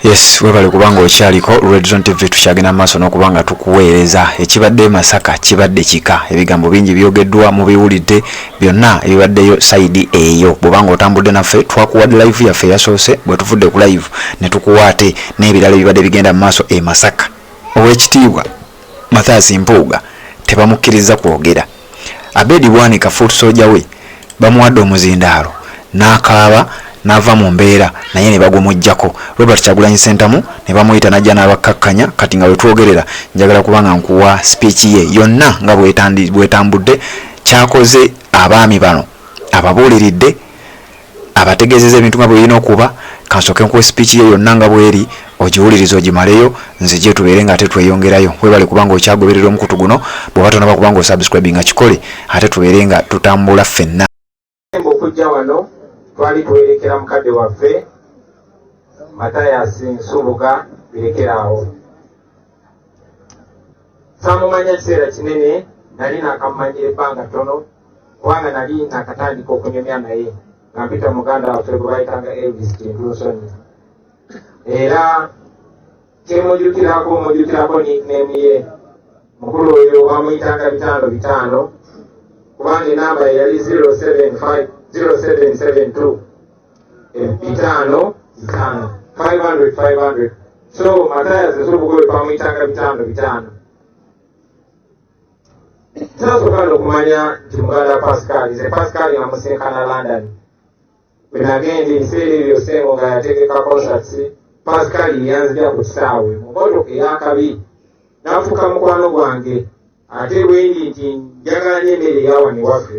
yes webale kubanga okyaliko redson tv tukyagenda maaso n'okuba nga tukuweereza ekibadde masaka kibadde kika ebigambo bingi byogeddwa mubiwulidde byonna ebibaddeyo saidi eyo bwobanga otambudde naffe twakuwadde live yaffe yasoose bwe tuvudde ku live ne tukuwa ate n'ebirala ebibadde bigenda mu maaso e masaka ow'ekitiibwa Mathias Mpuuga tebamukkirizza kwogera. Abed Bwanika foot soldier we bamuwadde omuzindaalo n'akaaba n'ava mu mbeera naye ne bagumuggyako. Robert Kyagulanyi Ssentamu ne bamuyita n'ajja n'abakkakkanya kati nga we twogerera njagala kuba nga nkuwa speech ye yonna nga bw'etambudde kyakoze abaami bano ababuuliridde abategeezeza ebintu nga bwe birina okuba kansooke nkuwa esipiiki ye yonna nga bweri ogiwuliriza ogimaleyo nzije tubeere nga ate tweyongerayo webale kubanga okyagoberera omukutu guno bw'oba tonaba kubanga osubscribe nga kikole ate tubeere nga tutambula ffenna okujja wano twali tuwerekera mukadde waffe matayasi nsubuga birekeraawo samumanya ekiseera kinene nali nakamumanyira ebbanga ttono kubanga nali nakatandika okunyumya naye nga mpita muganda waffe gwe bayitanga elvis kintunsonyi era kyemujukirako mujukirako nickname ye mukulu oyo bamuyitanga bitaano bitaano kubanga enamba yali 0772 bitaano bitaano 500 500 so mataya zezo obugobe bamuyitanga bitaano bitaano tasooka nokumanya nti muganda pascal ze pascal nga musinkana london bwenagenda ebiseera ebyo sengo nga yategeka concerts pascal yanzija ku kisaawe mukoto eyakabi nafuuka mukwano gwange ate bwendi nti njagala n'emmere eyawani waffe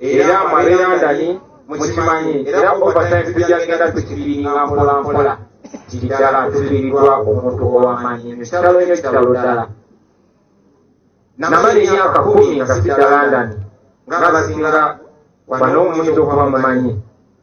era mwabe londoni mukimanyi era overtime tujja genda tukibiringa mpola mpola kiddala tubirirwa omuntu owamanyi nyo kitalo nyo kitalo ddala namala emyaka kumi nga sidda londoni nga basinga bano omuntu okuba mumanyi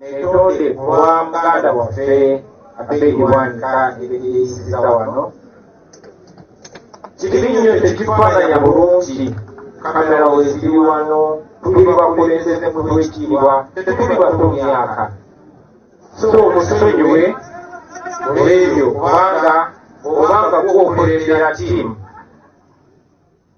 Netonde kulwa muganda waffe Abedi Wanika ebiyisiza wano kikiri nnyo tekifaananya bulungi kamera weziri wano tuli bakulembeze mu lwekitiibwa tetuli bato myaka so musonyiwe olwebyo kubanga obanga gwokulembera tiimu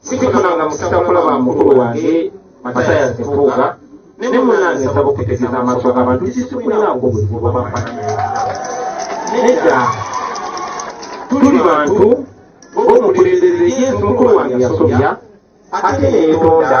sikifuna nga musita kulaba mukulu wange mataya sefuuga ne munange nsaba okutegeeza amaaso g'abantu kisikuliraako obuzibu bwamafanana nedda tuli bantu b'omukulembeze yesu mukulu wange yasobya ate neyetonda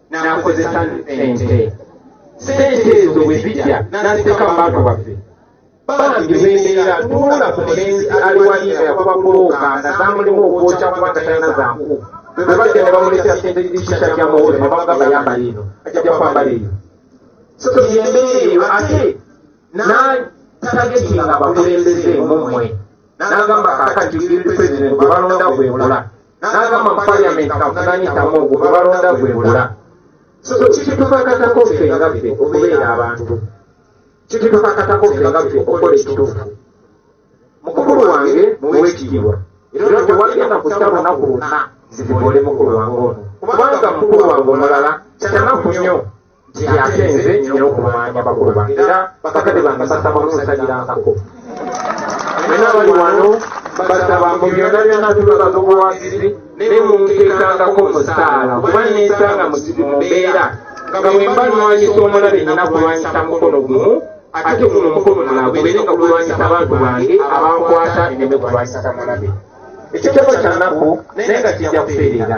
n'akozesa ente sente ezo bwe zijja n'aziteeka mu bantu baffe bambi bembeera tuula ku mulenzi ali wali nga yakuba bulooka nga zamulimu okwokya kuba tatalina zanku bwe bajja ne bamuleetera sente zikisa kya mawolo ne bagamba yambala eno ajja kwambala eyo so yembeera eyo ate n'atagetinga bakulembeze mumwe n'agamba kaakati buli pulezidenti gwe balonda gwebula n'agamba mu paliyamenti kavunanyitamu ogwo gwe balonda gwebula so kitukakatako ffe nga ffe okubeera abantu kitukakatako ffe nga ffe okukola ekituufu mukulu wange muwekitiibwa era tewagenda kusa lunaku lwonna nzivibole mukulu wange ono kubanga mukulu wange omulala kitanaku nnyo nti ate nze nina okumanya bakulu bange era bakadde bange basaba munsabirankako nina bali wano basaba mu byonna byonna tubabaga obuwagizi naye munteekangako musaala kuba nensanga muzibu mu mbeera nga bwe mba nwanyisa omulabe nina kulwanyisa mukono gumu ate guno omukono mulala gubeere nga gulwanyisa abantu bange abankwata neme kulwanyisa mulabe ekyo kyaba kyanaku naye nga kijja kutereera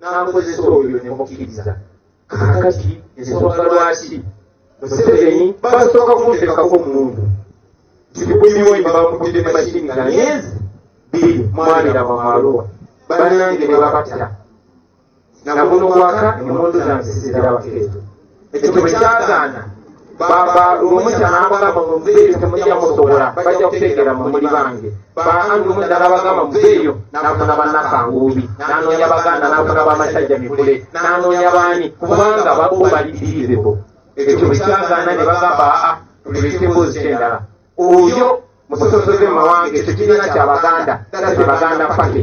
n'akozesa oyo ne mukkiriza kakati ensonga lwaki museveni basooka kumuteekako omuntu tikuyiwe bamukutte mashini nga myezi biri mwabira bamaluwa banange ne babatta naguno kwaka emundu zange sizirabako ezo ekyo bwe kyagaana baba lumusa n'abagamba muveeyo temujja musobola bajja kutegeera mu muli bange baange omu ddala bagamba muveeyo n'afuna bannakanguubi n'anoonya baganda n'afuna bamasajja mikule n'anoonya baani kubanga babo bali dirizibo ekyo bwe kyagaana ne bagamba aa tuleke emboozi kyendala oyo musosoze mu mawanga ekyo kibiina kya baganda that's the baganda party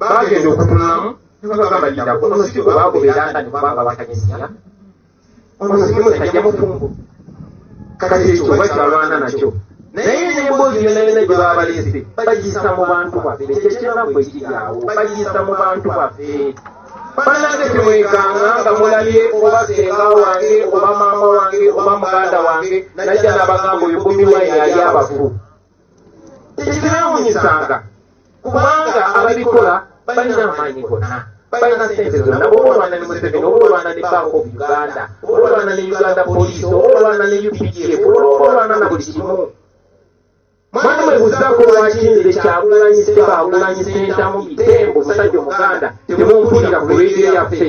bagenda okutunulamu nebagamba nti nako omusiki gwe bagobera nga ne kubanga bakanyisiya omusiki musajja mufumbo kati ekyo oba kyalwana nakyo naye n'emboozi yona yona gye babalese bagiyisa mu bantu baffe kyekyanaku ekiryawo bagiyisa mu bantu baffe banange temwekanga nga mulabye oba senga wange oba maama wange oba muganda wange najja nabagamba oyo bobi wine yali abafu tekibeewunyisanga kubanga ababikola balina amaanyi gonna balina sente zonna oba olwana ne museveni oba olwana ne bank of uganda oba olwana ne uganda poliisi oba olwana ne updf oba olwana na buli kimu mwana mwebuzako lwaki nze kyagulanyi seba agulanyi sentamu bitembo musajja omuganda temumpulira ku radio yaffe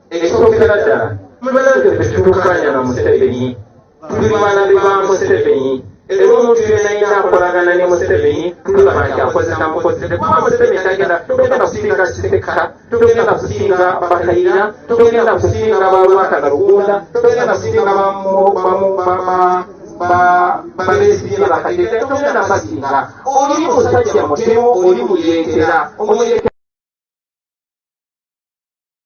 Ekisookera ddala tubanange ffe tutukaanya na Museveni tuli balabe ba Museveni era omuntu yena yina akolagana ne Museveni tulaba nti akozesa mukozese kuba Museveni tagenda togenda kusinga Kisekka togenda kusinga Bakayira togenda kusinga balwakana Lugunda togenda kusinga babesigye bakayira togenda basinga oli musajja mutemu oli muyekera omuyekera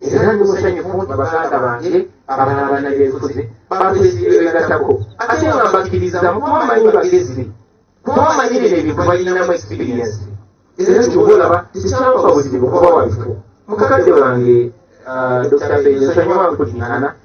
era ndi musanyufu nti baganda bange abalala banabyenfuzi batwezibegatako ate nga mbakkiriza mu kuba manyi bagezi kuba manyi bino ebintu balinamu ekisipiriyensi era kyoba olaba tekyampa buzibu kuba wabifu mukadde wange ah, dr benyo sanyuma nkudingana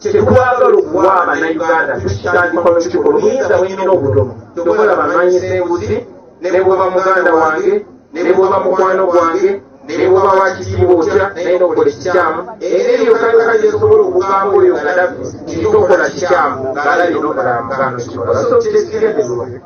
kyetwagala okuwa abanauganda tukitandika nokiti oluyinza bwenyina obutono kyokola bamanyi senguzi nebweba muganda wange nebweba mukwano gwange nebweba wakitiibwa otya naye nokola ekikyamu era eyo kayokka gyesobola okugamba oyo gadafi nti tokola kikyamu ngaalabye nokola muganda kikola so kyekigende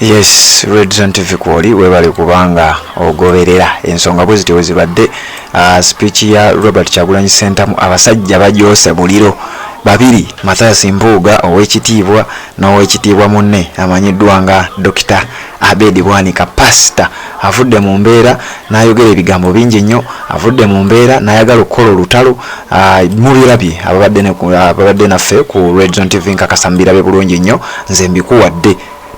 Yes, Red Zone TV kwoli webale kubanga ogoberera ensonga bwe zityo wezibadde uh, speech ya Robert Kyagulanyi Sentamu abasajja bagyose buliro babiri Mathias Mpuuga ow'ekitiibwa n'ow'ekitiibwa munne amanyiddwa nga Dokita Abedi Bwanika pasita avudde mu mbeera n'ayogera ebigambo bingi nnyo avudde mu mbeera n'ayagala okukola olutalo ah, mubirabye ababadde naffe ku redion tv nkakasa mubirabye bulungi nnyo nze mbikuwadde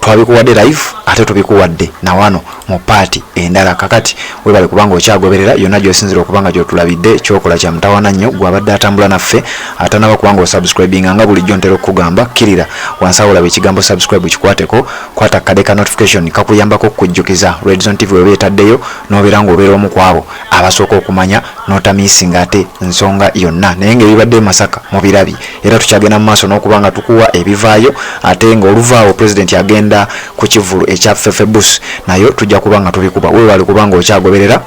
twabikuwadde live ate tubikuwadde nawano mu paati endala kakati webale kubanga okyagoberera yonna gyosinzira okubanga gyotulabidde kyokola kya mutawana nnyo gwabadde atambula naffe atanaba kubanga osubscribinga nga bulijjo ntera okukugamba kkirira wansi awolaba ekigambo subscribe kikwateko kwata kade ka notification kakuyambako okukujjukiza Red Zone TV weba etaddeyo nobeera ng'obeera omu kwabo abasooka okumanya notamisinga ate nsonga yonna naye ng'ebibadde masaka mu birabi era tukyagenda mu maaso n'okuba nga tukuwa ebivaayo ate ng'oluvaawo pulezidenti agenda ku kivulu ekya fefebus nayo tujja kuba nga tubikuba wewali kuba ng'okyagoberera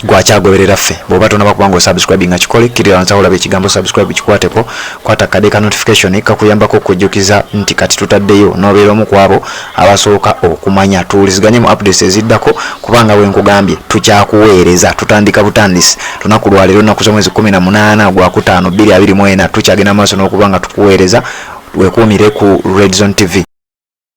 gwakyagoberera ffe bwoba tonaba kubanga osubscribing nga kikole kirira wansi aolaba ekigambo subscribe kikwateko kwata kade ka notification kakuyambako okujjukiza nti kati tutaddeyo nobeera omu kwabo abasooka okumanya tuwuliziganye mu updates eziddako kubanga wenkugambye tukyakuweereza tutandika butandisi lunaku lwaleero naku zomwezi 18 gwakutaano 224 tukyagenda maaso n'okuba nga tukuweereza wekuumire ku redzone tv